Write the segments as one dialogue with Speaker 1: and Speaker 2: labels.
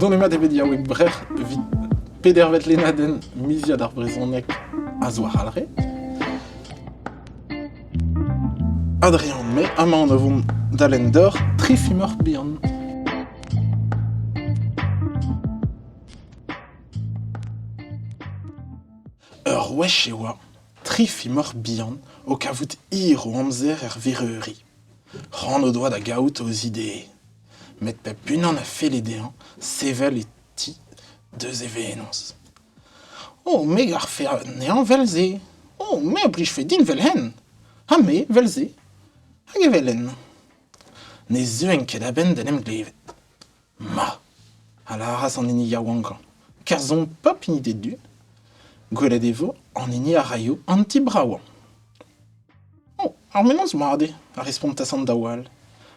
Speaker 1: Donemat eo bet yaouank Brec'h evit pedervet lennadenn miziad ar brezhoneg a-zo-arall-re. Adrien May amañ o vont d'alen dor tri fimor bihan. Ur wech e oa Tri fimor bihan o kavout hir o amzer er vereuri. C'hoant o doa da gaout o zidee, met pep unan a felle dezhañ sevel e ti deus e venoz. O, me garfe anezhañ 'vel-se. O, me a blijfe din 'vel-henn. Ha me 'vel-se. Hag evel-henn. Ne zeuen ket a-benn d'en em glevet. Ma! a lâras an hini yaouankañ, kerzhomp pep hini d'e du. Gwelet e vo an hini a raio an ti bravañ. Oh, ar menoz mat eo, a respontas an daou all,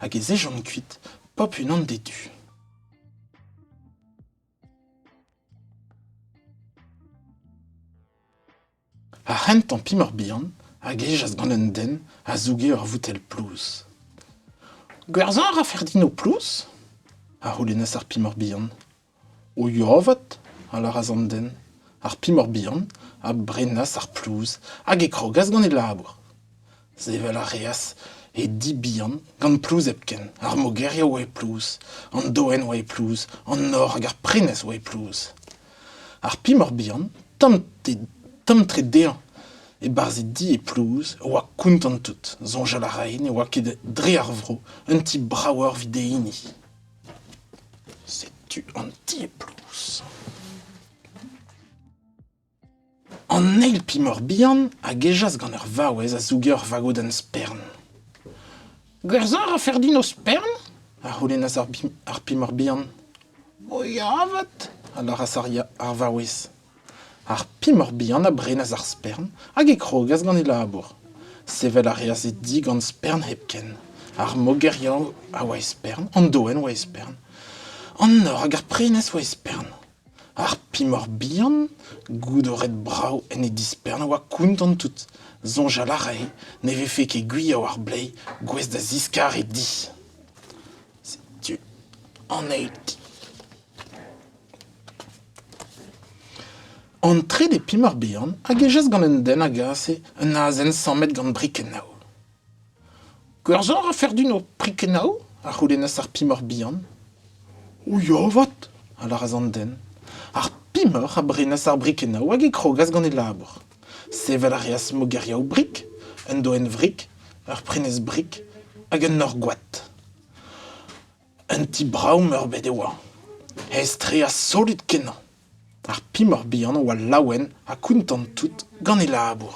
Speaker 1: hag ez ejont kuit, pop unan d'e du. Ar c'hentañ pimor bihan a gejas gant un den a zouge ur voutell plouz. Gwerzhañ a ra Ferdinand Plouz? a c'houlennas ar pimor bihan. O yuavat, a lâras an den, ar pimor bihan a brenas ar plouz hag e krogas gant e labour. Sevel a reas he di bihan gant plouz hepken. Ar mogeriv oa e plouz, an doenn oa e plouz, an nor hag ar prenestr oa e plouz. Ar pimor bihan, tomm-tre dezhañ e-barzh e di e plouz, a oa kontant tout. Soñjal a rae ne oa ket dre ar vro un ti bravoc'h evit e hini. Setu an ti e plouz. An eil pimor bihan a gejas gant ur vaouez a zouge ur vagodenn spern. Gwerzhañ a rafer din ho spern? a c'houlennas ar bim- ar pimor bihan. O ya avat, a lâras ar, ya- ar vaouez. Ar pimor bihan a brenas ar spern hag e krogas gant e labour. Sevel a reas e di gant spern hepken. Ar mogeriañ a oa e spern, an doenn a oa e spern. An nor hag ar prenestr a oa e spern. Ar pimor bihan, goude o red brav en e dispern, a oa kontant tout. Soñjal a rae ne vefe ket gwir war bleiz gouest da ziskar e di. Setu anezhi ti. An trede pimor bihan a gejas gant un den a gase un azen sammet gant brikennaou. Gwerzhañ a rafe din ho prikenaoù? a c'houlennas ar pimoc'h bihan. O ya avat, a lâras an den. Ar pimoc'h a brenas ar brikenaou hag e krogas gant e labour. Sevel a reas mogeriaou-brik, un doenn-vrik, ur prenestr-brik hag un nor-gwad. Un ti brav-meurbet e oa, aes-tre ha solut-kenañ. Ar pimor bihan a oa laouen ha kontant tout gant e labour.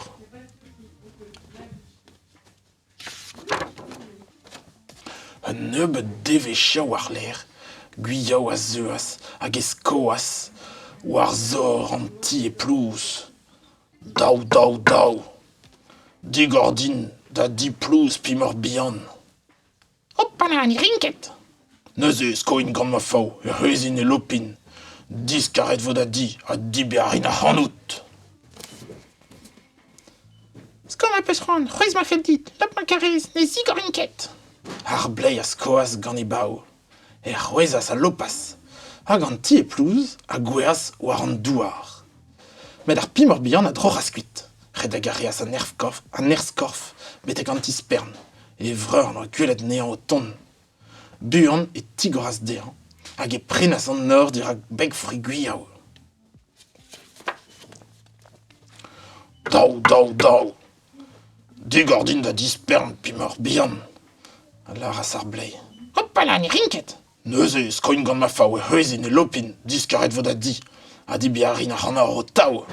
Speaker 1: Un nebeud devezhioù war-lerc'h, Gwiaou a zeuas hag e skoas war zor an ti e Plouz. Daou, daou, daou. Digor din da di Plouz pimor bihan. Hoppa ma ni rin ket. Neuze e skoin gant ma faou, e reusin e lopin. Diskaret vo da di ha diber a rin ac'hanout. Sko ma peus c'hoant, c'hwezh ma fell dit, lop ma karez, ne zigorin ket. Ar bleiz a skoas gant e bav, e c'hwezhas a lopas, hag an ti e plouz a gouezhas war an douar. Met ar Pimp Mor-Bihan a droc'has kuit, redek a reas an nerzh-korf betek an ti-spern, e vreur en doa gwelet anezhañ o tont. Buan e tigoras dezhañ hag e prenas an nor dirak beg Frigwiaou. Daou, daou, daou. Digor din da dispern Pimp Mor-Bihan, a lâras ar blez. Hopala, ne rin ket. Neuze e skoin gant ma faou e c'hwezhin e lopin, diskaret 'vo da di, ha dibiañ a rin ac'hanoh ho taou.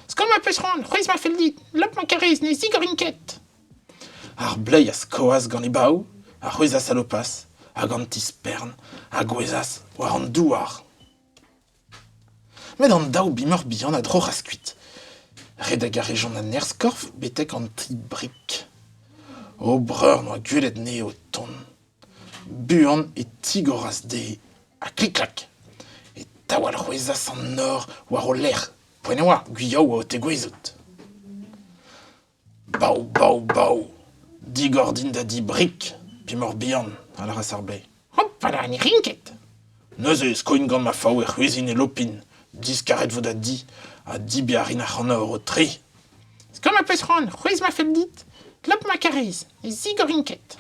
Speaker 1: Skoan ma peus c'hoant, c'hwezh ma fell dit, lop ma karrez, ne zigorin ket. Ar bleiz a skoas gant e baoù, a c'hwezhas alopaz, hag an ti-spern a gouezhas war an douar. Met an daou bimoc'h bihan a droc'has kuit. Redek a rejont a-nerzh-korf betek an ti-brik. O breur n'oa gwelet anezhe o tont. Buan e tigoras dezhe ha klik-klak e taol c'hwezhas an nor war o lerc'h. Poent e oa, gwiriou a oa o tegouezhout. Bav, bav, bav, digor din da di Brik, Pimor-Bihan, a lâras ar Bae. Hopala, ne rin ket. Neuze e skoin gant ma faou e c'hwezhin e lopin, diskaret vo da di, ha dibiañ a rin ac'hanour ho tre. Sko ma
Speaker 2: peus c'hoant, c'hwezh ma fell dit, glop ma karez, ne zigorin ket.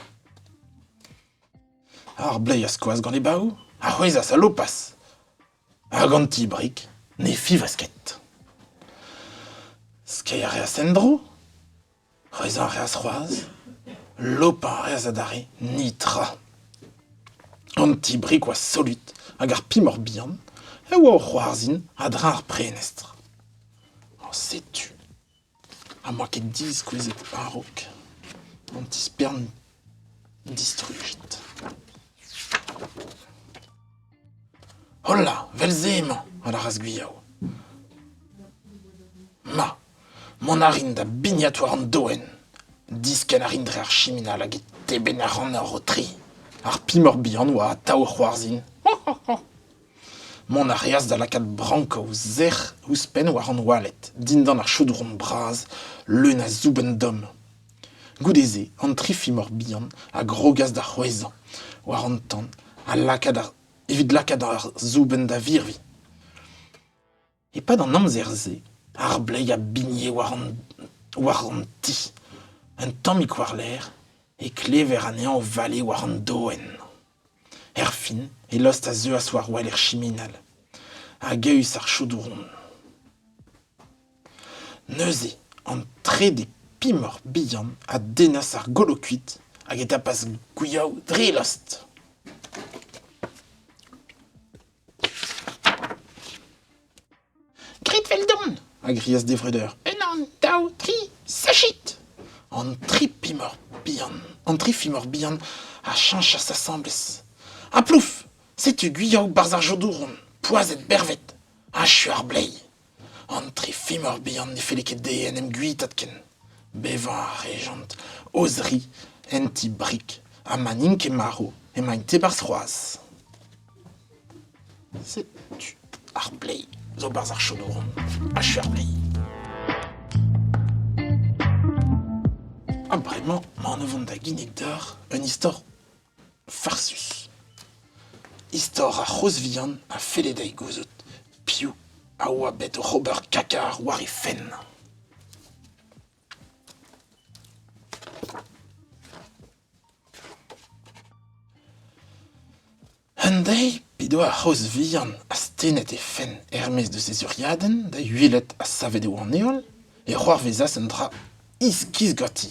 Speaker 1: Ar Blay a skoas gant e bav, a c'hwezhas a lopas. Hag an ti-brig ne fiñvas ket. Skeiñ a reas en-dro, reizhañ a reas c'hoazh, lopañ a reas adarre, netra. An ti-brig oa solut hag ar pimor bihan e oa o c'hoarzhin a-dreñv ar prenestr. Ha setu. Ha n'oa ket diskouezet a-raok an tispern distrujet. Hola, vel-se emañ, a lâras Gwiaou. Ma, mont a rin da bignat war an doenn. Diskenn a rin dre ar chiminal hag e tebenn a ran ur rotri. Ar pimor bihan oa atav a c'hoarzhin. Mont a reas da lakaat brank o zec'h ouzhpenn war an oaled, dindan ar chaodron bras leun a zoubenn domm. Goude-se, an tri fimor bihan a grogas da c'hwezhañ war an tan ha lakaat ar- evit lakaat ar zoubenn da virviñ. E-pad an amzer-se, ar bleiz a bigne war an ti. Un tammig war-lerc'h e klever anezhañ o vale war an doenn. Erfin, e lost a zeuas war-wel er chiminal, hag eeus ar chaodouron. Neuze, an trede pimor bihan a dennas ar golokuid hag e tapas gwiaou dre lost.
Speaker 2: Grit 'veldon! a grias d'e vreudeur.
Speaker 1: Ennan, daou,
Speaker 2: tri, sachit! An tri
Speaker 1: pimor bihan, an tri fimor bihan a cheñchas asambles. Ha plouf! Setu gwyaou 'barzh ar jodouron, poazhet bervet! Achu ar bleiz! An tri fimor bihan ne felle ket dezhe en em guitaat ken. Bevañ a rejont o-zri en ti Brig ha ma n'int ket marv emaint e-barzh c'hoazh. Setu ar pleiz zo 'barzh ar chonouron. Achu ar pleiz. Ha bremañ 'mañ o vont da ginnig deoc'h un istor Farsus. Istor ar c'hozh vihan a felle dezhi gouzout piv a oa bet oc'h ober kakaar war he fenn. Un deiz p'edo ar c'hozh vihan astennet he fenn er-maez deus he zuriadenn da uhelet ha savet eo an heol, e c'hoarvezas un dra iskis ganti.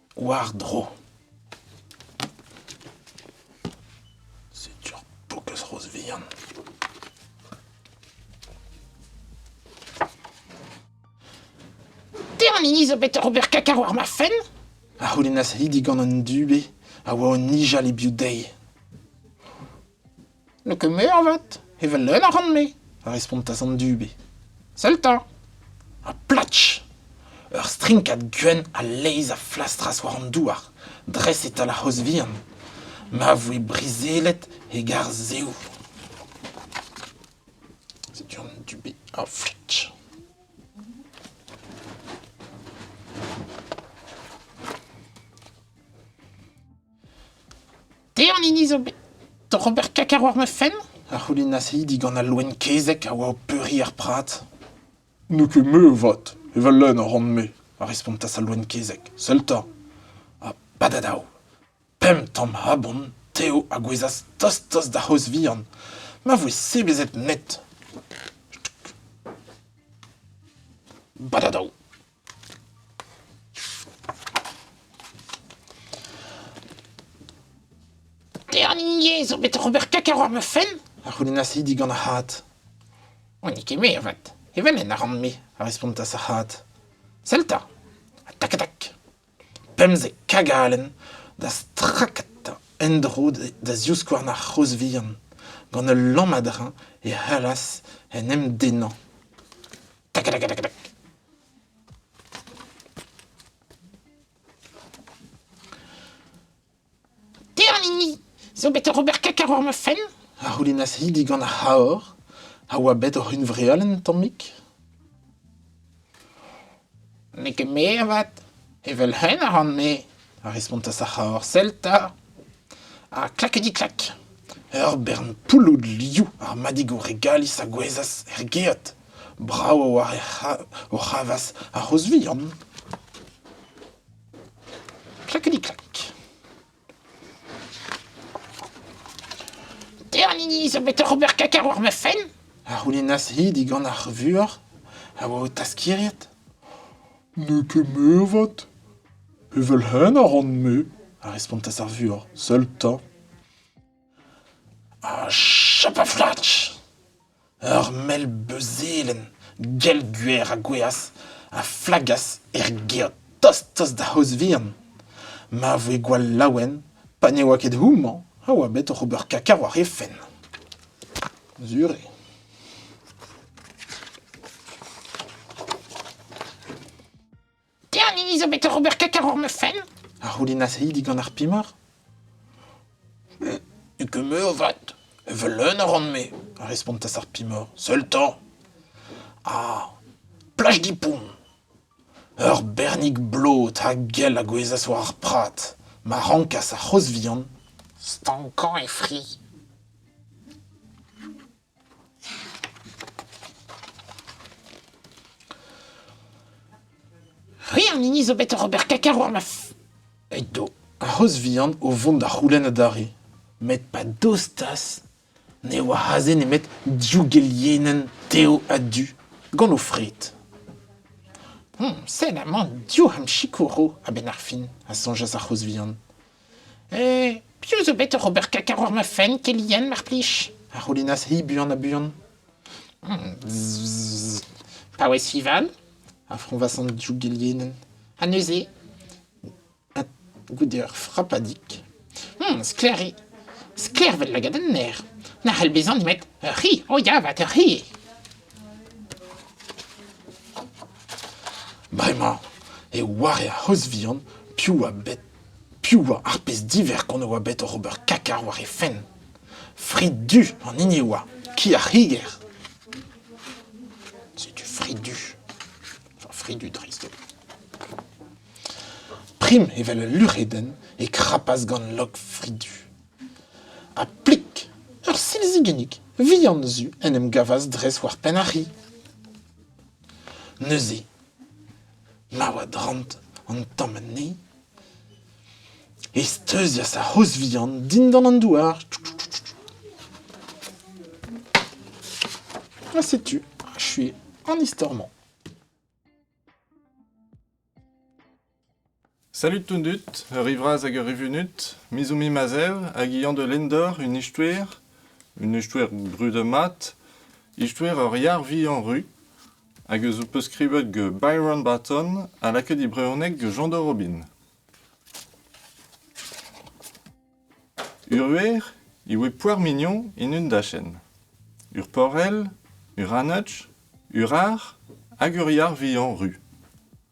Speaker 1: War-dro. Setu ur pokez roz vihan.
Speaker 2: Termini zo bet ober kaka war ma fenn? A c'houlennas
Speaker 1: Lidi gant un dube a oa o nijal e biou dezhi.
Speaker 2: n'eo ket me avat, evel leun a ran-me, a respontas an
Speaker 1: dube. Sell 'ta!
Speaker 2: Ha
Speaker 1: platch! Ur strinkad gwenn a-leizh a flastras war an douar, dres e-tal ar c'hozh vihan, ma voe brizellet hegar zehoù. Setu an dube a fletch.
Speaker 2: Te an hini zo bet oc'h ober kakañ war ma fenn? a c'houlennas hi
Speaker 1: digant al loen kezeg a oa o peuriñ ar prad. N'eo ket me avat, evel lenn a ran-me, a respontas al loen kezeg. Sell 'ta! Ha badadaou! Pemp tamm abon, tev a gouezhas tost-tost d'ar c'hozh vihan. Ma voe sebezet net. Badadaou!
Speaker 2: Dernier zo bet ober kek war ma fenn. A c'houlennasi digant
Speaker 1: ar c'hat. O, n'eo
Speaker 2: ket me, avat. Evel-en a ran-me, a respontas ar c'hat.
Speaker 1: Sell 'ta.
Speaker 2: Tac-tac.
Speaker 1: Pemzek kagalen da strakata en-dro da zivskouarn ar c'hozh vihan. Gant ul lammadra e c'hallas en em dennañ.
Speaker 2: Tiernini zo bet oc'h ober kekar war ma fenn a c'houlennas hi
Speaker 1: digant ar c'haor a oa bet oc'h unvrealenn un tammig.
Speaker 2: N'eo ket me avat, evel-hen a ran-me, a respontas ar
Speaker 1: c'haor Celta. Ha
Speaker 2: klak di klak, ur
Speaker 1: bern pouloud liou ar madig o regalis a gouezhas er geot. Brav a oa o c'havas ar c'hozh vihan.
Speaker 2: Klakidi-klak. Ternini zo bet oc'h ober kaka war ma fenn? a c'houlennas-hi
Speaker 1: digant ar vuoc'h a oa o taskiriet. N'eo ket meurvat. Evel-henn a ran-me, a respontas ar vuoc'h, seul 'ta. Ha chapaflach ! Ur mell beuzelenn gell-gwer a gouezhas a flagas er gêr tost-tost da c'hozh-vihan. Ma voe gwall laouen pa ne oa ket houmañ a oa bet oc'h ober kaka war he fenn. Sur eo.
Speaker 2: Tiens, Nini zo bet oc'h ober kek war ma fenn. A c'houlinnas-hi
Speaker 1: digant ar pimor.
Speaker 2: Ugumeux o vat. Evel leun a ran-me, a respontas ar
Speaker 1: pimor. Seul-temps. Ah,
Speaker 2: plaj gipoun.
Speaker 1: Eur bernig blot ha gell a gouezas war ar prat, ma rankas ar c'hoz vihan stankañ
Speaker 2: e fri. C'hwi an hini zo bet oc'h ober kaka war ma... Edo
Speaker 1: ar c'hoz vihan o vont da c'houlenn adarre. Met pa dostas, ne oa aze nemet div gelienenn tev ha du, gant o fred. Hmm, sell
Speaker 2: amañ, div c'ham sikouro a-benn ar fin, a soñjas ar c'hoz
Speaker 1: vihan. Eh,
Speaker 2: piv zo bet oc'h ober kaka war ma fenn, kelinien, mar plij? A c'houlinas-hi
Speaker 1: buan-ha-buan. Hmm,
Speaker 2: paouez Sivan, a froñvas
Speaker 1: an div gelienenn. Ha neuze,
Speaker 2: ha goude
Speaker 1: ur frapadig, hmm, sklaer eo.
Speaker 2: Sklaer vel lagad an ner. Na c'hell bezañ nemet ur c'hi. O ya avat, ur c'hi.
Speaker 1: Bremañ, e oare a c'hoz vihan piv a bet Piv oa ar pezh diverkont a oa bet oc'h ober kaka war he fenn ? Frid du an hini e oa, ki ar c'higer.
Speaker 2: Setu frid du. Enfin, frid du dreist holl.
Speaker 1: Prim evel ul luc'hedenn e krapas gant log frid du. Ha plik, ur silzigennig vihan zu en em gavas dres war penn ar c'hi. Neuze, Laouen drant an tamm anezhi e steuzias ar c'hozh vihan dindan an douar. Ha setu achué an istor-mañ.
Speaker 3: Salud tout dud, ur rivraz hag ur rivunut, Mizumi Mazev hag Yann de Lindor, un ichtouer, un ichtouer brudet mat, ichtouer ur yar vihan ru, hag eus ho peus skrivet Byron Barton ha lakaet e brezhoneg Jean de Robin. Uruer e oe poar mignon en un dachenn. Urporell, uranutch, urar hag ur yar vihan ru.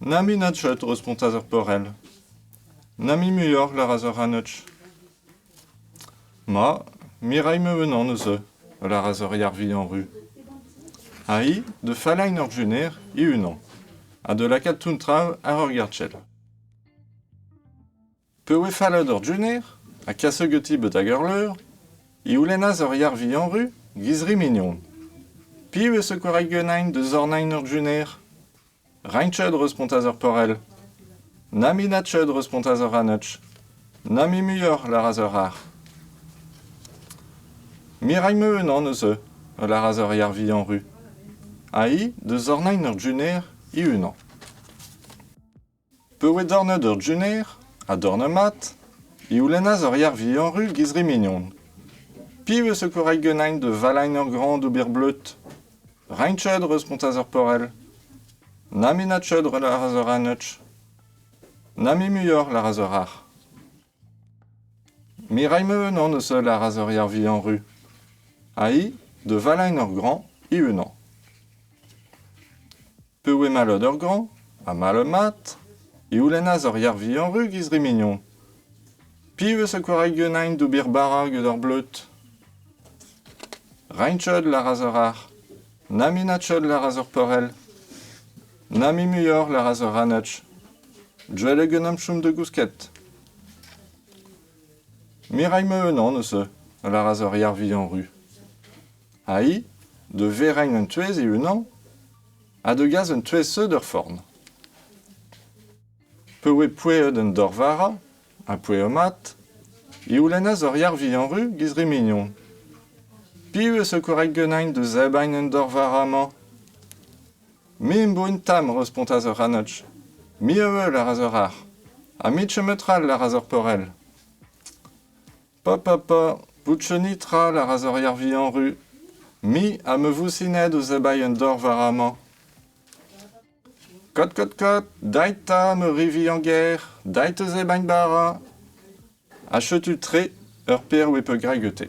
Speaker 3: Na mui na cheut, respontas ar porell. Na mui muioc'h, lâras ar c'hanotch. Ma, Mireille-me unan eus eu. lâras ur yar-vihan ru. Ha hi, da fallain ur juner, he-unan, ha da lakaat toun traoù àr ur gartchell. P'e oe fallet eur jener, ha kaset ganti betek ar leur, e oulennas eur yar vihan-ru, giz-ri mignon. Piou eo 'z eus gwaraet ganein da zornain eur jener? Reinched, respontas ar porell. Na minatched, respontas ar ranech. Na mui muioc'h, lâras eur c'harr. Miragn-me unan eus eu, a lâras eur yar vihan-ru. Ha hi da zornain eur jener he-unan. Pa oe dornet eur jener, ha dornet mat, e c'houlennas eur yar vihan-ruz gant re mignon. Piv eo zo koraik ganin da valain eur graoñ d'ober bleud ? Reiñ-cheud, respontas ar porell. Na menat-cheud, lâras eur aneuch. Na mui muioc'h, lâras eur arc'h. Me ray-me unan eus holl, lâras eur yar vihan-ruz. Ha hi, da valain eur graoñ, e unan. Peu eo mallot ur graoñ ha mallot-mat e c'houlennas ur yar vihan-ru giz-re mignon. Piv eus ar gwreg Guenain d'ober bara gant ar bleud? Reiñchod lâras ur arc'h, Naminatchod lâras ur porell, Namimuioc'h lâras ur ranech, Deuet eo gant chom da gousket. Me ray ma unan eus a lâras ur yar vihan-ru. Aïe, da vereñ un touez e-unan ha da gas un touez-seud er forn. Pa oe poueet an dorvara ha poueet-mat e c'houlennas ur yar-vihan-ru giz re mignon. Piv a zo korrek ganin da zebriñ an dorvara-mañ? Me am boa un tamm, respontas ur c'hanotch. Me a-wel a ra ur arc'h, ha me chemet ral a ra ur porell. Pa, pa, pa, boutchonit ral a ra Zorier Vihan-Ru. Me ha ma vousined o zebai un dor war amañ. Kot, kot, kot, dait 'ta, ma ri Vihan-Ger, dait o zebain bara. Achetu tre, ur perv e peu graet gete.